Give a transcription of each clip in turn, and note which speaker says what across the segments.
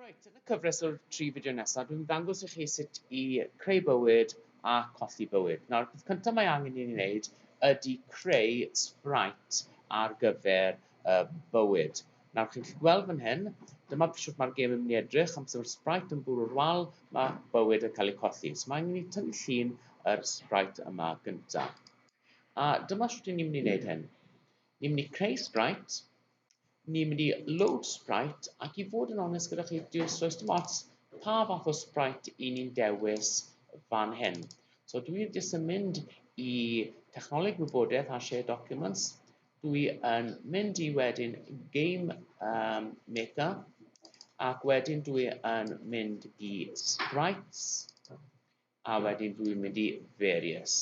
Speaker 1: Reit, yn y cyfres o'r tri fideo nesaf, dwi'n dangos i chi sut i creu bywyd a colli bywyd. Nawr, peth cyntaf mae angen i ni wneud ydy creu sprite ar gyfer y bywyd. Nawr, chi'n gallu gweld fan hyn, dyma sut mae'r gêm yn mynd i edrych, amser mae'r sprite yn bwrw'r wal, mae bywyd yn cael ei colli. So mae angen i ni tynnu llun yr sprite yma gyntaf. A dyma sut ni'n mynd i wneud hyn. Ni'n mynd i creu sprite, ni'n mynd i load Sprite ac i fod yn onest gyda chi, does does dim ots pa fath o Sprite i ni'n dewis fan hyn. So dwi wedi jyst yn mynd i technoleg wybodaeth a share documents, dwi yn mynd i wedyn game um, maker ac wedyn dwi yn mynd i sprites a wedyn dwi'n mynd i various.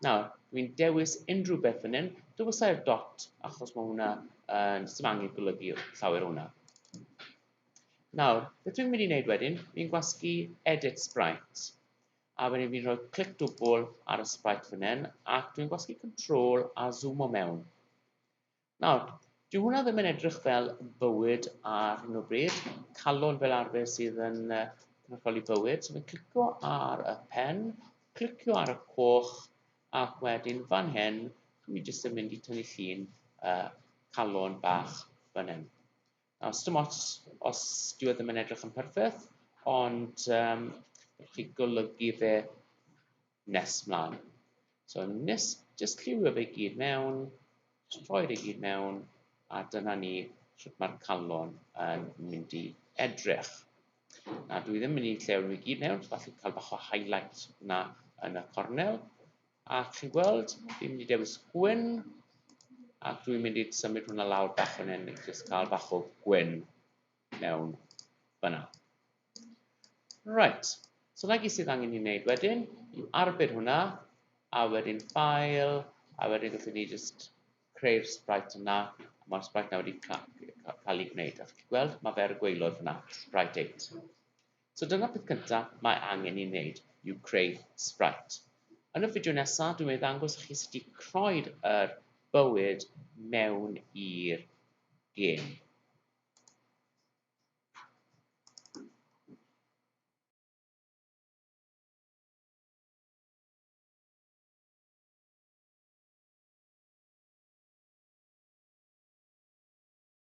Speaker 1: Nawr, dwi'n dewis unrhyw beth fan hyn. Dewysai'r dot, achos mae hwnna, uh, sy'n angen golygu llawer hwnna. Nawr, beth dwi'n mynd i wneud wedyn, fi'n gwasgu edit sprite. A wedyn fi'n rhoi clic dwbl ar y sprite fan hyn, ac dwi'n gwasgu control a zoomo mewn. Nawr, dyw hwnna ddim yn edrych fel bywyd ar hyn o bryd. Calon fel arfer sydd yn cynrychioli bywyd. So fi'n clicio ar y pen, clicio ar y coch, ac wedyn fan hyn, mi jyst yn mynd i tynnu llun uh, calon bach fan hyn. Nawr, sdim ots os dyw e ddim yn edrych yn perffaith, ond um, chi golygu fe nes mlaen. So nes, just lliwio fe gyd mewn, just rhoi fe gyd mewn, a dyna ni sut mae'r calon yn mynd i edrych. Na, dwi ddim yn mynd i llewn i gyd mewn, falle cael bach o highlight na yn y cornel, A chi'n gweld, fi'n mynd i dewis gwyn, ac dwi'n mynd i symud hwnna lawr bach fan hyn, i jyst cael bach o gwyn mewn fyna. Right, so na gyd sydd angen i wneud wedyn, yw arbed hwnna, a wedyn ffael, a wedyn gallwn ni jyst creu'r sprite yna, a mae'r sprite yna wedi cael ei gwneud, a chi'n gweld, mae fe ar y gweilod fyna, sprite 8. So dyna peth cynta mae angen i wneud yw creu sprite. Yn y fideo nesaf dwi'n mynd i ddangos i chi sut i croed yr bywyd mewn i'r gêm.